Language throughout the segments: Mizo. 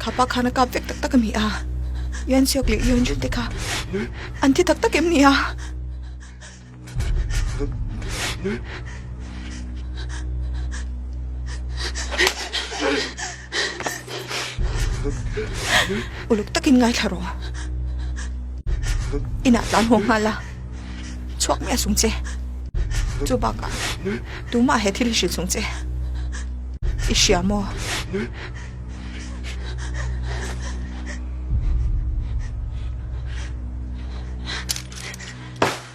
Thapa khan a kap vek tak tak a ni a. Yan Siok leh Yon Jun te kha an thi tak tak em ni a. Uluk takin ngaithla rawh. Inah tlan huang nghal la. Chuak mi a sung che. Chu baka tuma he thil hi hril sung che. I hria maw?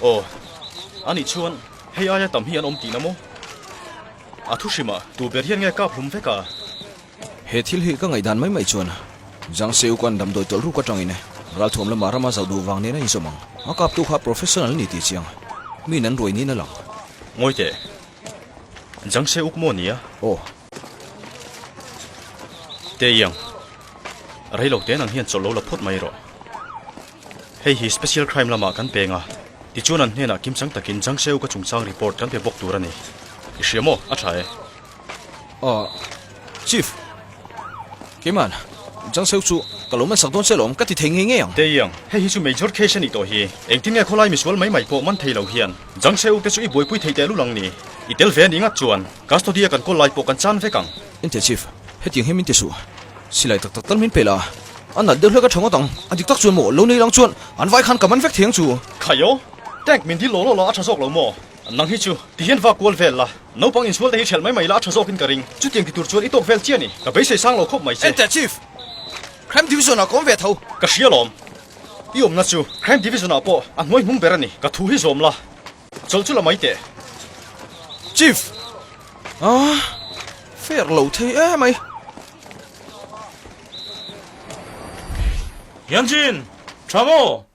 Aw, anih chuan hei aia tam hi an awm tih na maw? A thu hrimah tu ber hian nge kap hlum vek a? He thil hi ka ngaihdan mai mai chuan Jangseu khan damdawi tawlh ruk atangin Ralthuam lama rama zoh duh vang nen a inzawm ang. A kaptu kha professional a ni tih chiang min an ruai niin a lang. Ngawi teh. Jangseu uk maw nia? Aw. Teiang. Reilo ten ang hian chawlh lo la phawt mai rawh. Hei hi special crime lamah kan peng a, tichuan an hnenah kimchang takin Jangseu ka chungchang report kan pe bawk tur a ni. I hria maw? A tha e. Aww, Chief, keimahan Jang Seo chu ka lo man sak dawn selo awm ka ti thei ngei ngei ang. Teiang, hei hi chu major case a nih tawh hi. Engtin nge khawlai misual mai mai pawh man thei lo hian Jang Seo te chu i buaipui thei teh lut ang ni? I tel ve a nih ngat chuan custody a kan call lai pawh kan chan vek ang. Entir Chief, hetiang hian min ti suh. Silai tak tak tal min pe la, a nat deuh hlek a tha ngawt ang. A dik tak chuan maw? Lo nei lo ang chuan an vai khan ka man vek thei ang chu. Khaio, Tank min dil law law la a tha zawk lo maw? Nang hi chu, ti hian va kual vel la, naupang insual te hi hrelh mai mai la a tha zawkin ka ring. Chutiang ti tur chuan i tawk vel chiah ni, ka beisei sang lo khawp mai che. Enter Chief, Crime Division ah ka awm ve tho. Ka hria lawm. I awmna chu Crime Division ah pawh a hnuai hnung ber a ni. Ka thu hi zawm la, chawlh chu la mai teh. Chief, Aah, fair lo thei e mai. Hyunjin, Tha maw?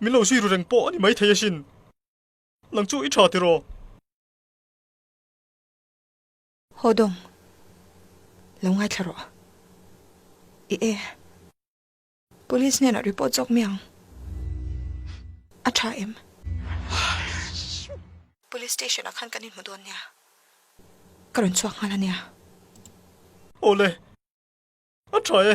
Min lo zui ru reng pawh a ni maithei a sin. Nang chu i tha tir aw. Haw dawng, lo ngaithla rawh i e. Police hnenah report zawk mi ang. A tha em? Police station ah khan kan inhmu dawn nia. Ka rawn chhuak nghal a nia. Awle, a tha e.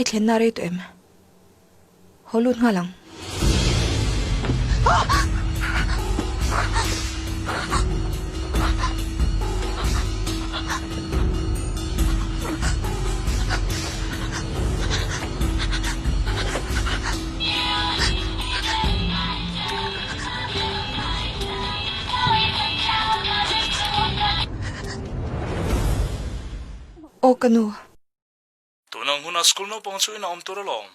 I thlenna a rei tawh em? Haw lut nghal ang. Aw ka nu. Tunang hunah school naupang chu in a awm tur alawm.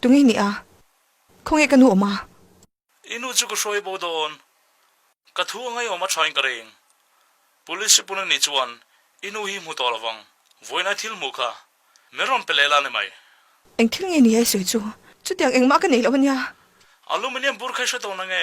Tunge nih a? Khawnge ka nu awm a? I nu chu ka hruai bo dawn. Ka thu a ngaihawm a thain ka ring. Police sipuna nih chuan, I nu hi hmu tawh lovang. Vawiinai thil hmuh kha. Min rawn pe leh la ni mai. Eng thil nge ni a i sawi chu? Chutiang engmah ka neih loh a nia. Aluminium bur kha i hre tawh na nge?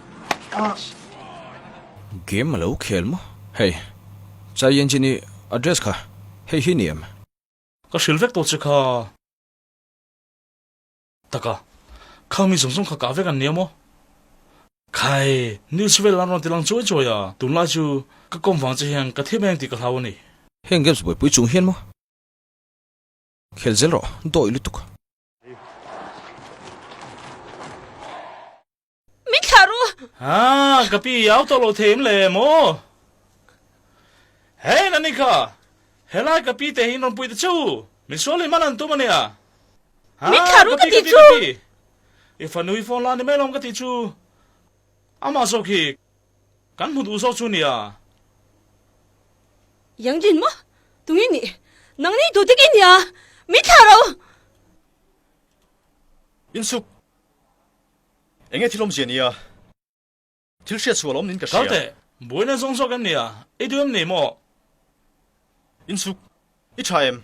Game alo khel maw hei. Chai Yan Jin-i address kha hei hi ni em? Ka hrilh vek tawh che kha. Taka. Kha mi zawng zawng kha kah vek an nia maw? Khai. News vel an rawn ti lang chuai chuai a, tunlai chu ka kawm vang che hian ka thim a eng tih ka hlau a ni. Heng games buaipui chung hian maw? Khel zel rawh, dawi lutuk. Min thlah ru! Ha, ka pi au tawh lo thei em le maw? Hei Nanika, helai ka pi te hi rawn puite chu min sual leh man an tum a nia. Ha, Min thlah ru ka ti chu! I fanui phone la ni mai lawm ka ti chu, amah zawk hi kan hmu duh zawk chu nia. Yanglin maw? Tunge nih nang nei duh dik i nia? Min thlah ro! Insuk. Enge thil awmzia nia? Thil hriat sual awm niin ka hria. Kaute, buaina zawng zawk em nia? I duh em ni maw? In suk i tha em?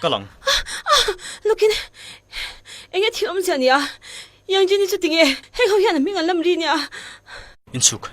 Ka lang. Lukin, eng nge thil awm zia nia? Yang Jenny chu ti nge heng ho hian a hming an lam ri nia? In chhuk.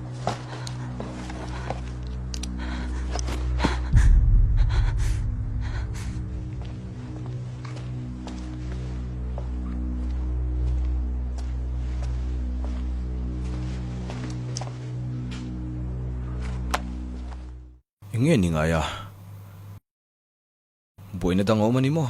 Enge ni ngai a? Buaina dang a awm a ni maw?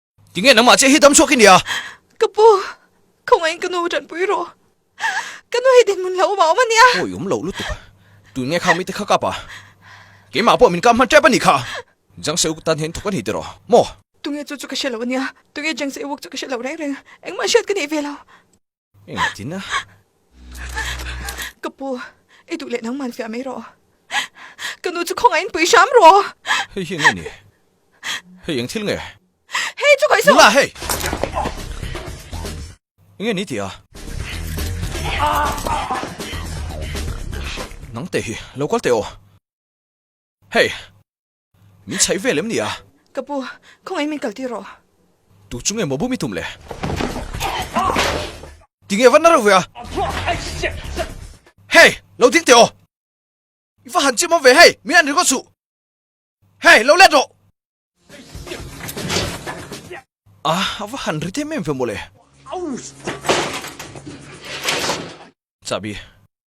Tinge nangmah chiah hi dam chhuak i nia? Ka pu, khawngahin ka nu ṭan pui rawh. Ka nu hi dinhmun hlauh awmah awm a nia. Pawi awm loh lutuk. Tun nge khang mite kha kap a? Keimah pawh min kap hman tep a nih kha. Jangseuk tan hian thawk a nih teh rawh maw? Tunge chu chu ka hre lo a nia. Tunge Jangseuk chu ka hre lo reng reng. Engmah hriat ka neih ve lo. Engtin a? Ka pu, i duh leh nang man fiah mai rawh. Ka nu chu khawngah in pui hram rawh. Hei hi nge ni? Hei eng thil nge? Hei chu khawisaw! La hei! Nge ni tia? Nangte hi lo kal teh aw. Hei! Min chhaih ve lem ni a. Ka pu, khawngaiin min kal tir rawh. Tu chu nge maw bum i tum le? Ti nge vat na reuh ve a? Hey! Lo ding teh aw! I va han chim awm ve hei, min an ring aw chuh. Hey! Lo let rawh! A a va han ri dêm em ve maw le? Chahbi.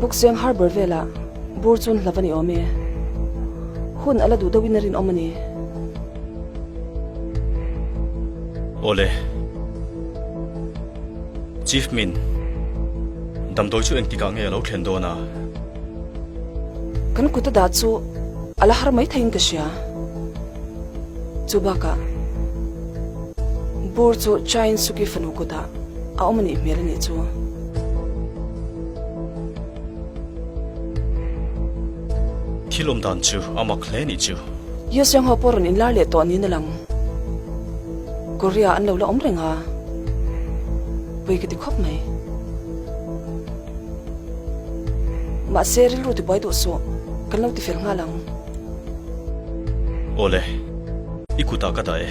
Buksueng Harbour velah bur chun hlava ni awm e. Hun a la duh deuhin a rinawm a ni. Aw le. Chief Min, damdawi chu engtikah nge a lo thlen dawn a? Kan kuta dah chu a la har mai thei in ka hria. Chu bakah bur chu Chain Suki fanu kutah a awm a nih hmel a nih chu. Thil awm dan chu a mak hle a nih chu. Yeo Siang ho pawh rawn in lar leh tawh niin a lang. Korea an lo la awm reng a, Pui ka ti khawp mai. Mahse, rilru ti buai duh suh. Kan lo ti fel nghal ang. Aw le. I kutah ka dah e.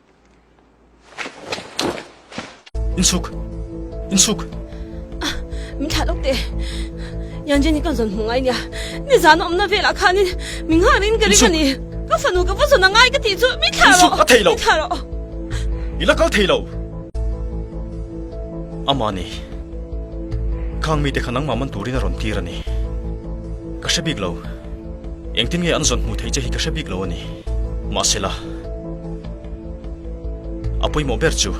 In suk. In suk. Ah, min thla lok te. Yan Jenny kan zon hmu ngai nia. Ni zan om na vela khan in min ha rin ka ring ani. Ka fanu ka vazon ngai ka ti chu min thla ro. Ka thei lo. Thla ro. Ila kal thei lo. Amani. Khang mi te khan nangma man turin a ron tir ani. Ka hre bik lo. Engtin nge an zawn hmuh theih che hi ka hre bik lo a ni. Mahsela, a pawimawh ber chu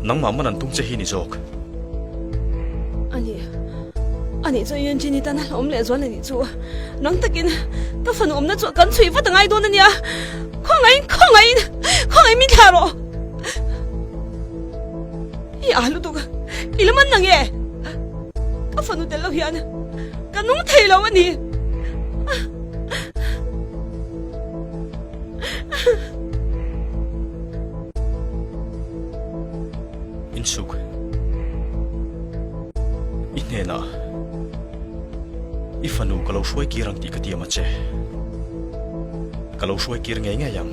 nangmah man an tum che hi a ni zawk. A ni. A nih chuan Yunjin i tan a hlawm leh zual a nih chu. Nang takin ka fanu awmna chu a kan chhuih vat a ngai dawn a nia. Khawngaih in, khawngaih in, khawngaih min thlah rawh. I ah lutuk a, i lam an na nge? Ka fanu tel lo hian ka nung thei lo a ni. Insuk, i hnenah i fanu ka lo hruai kir ang tih ka ti a mache. Ka lo hruai kir ngei ngei ang.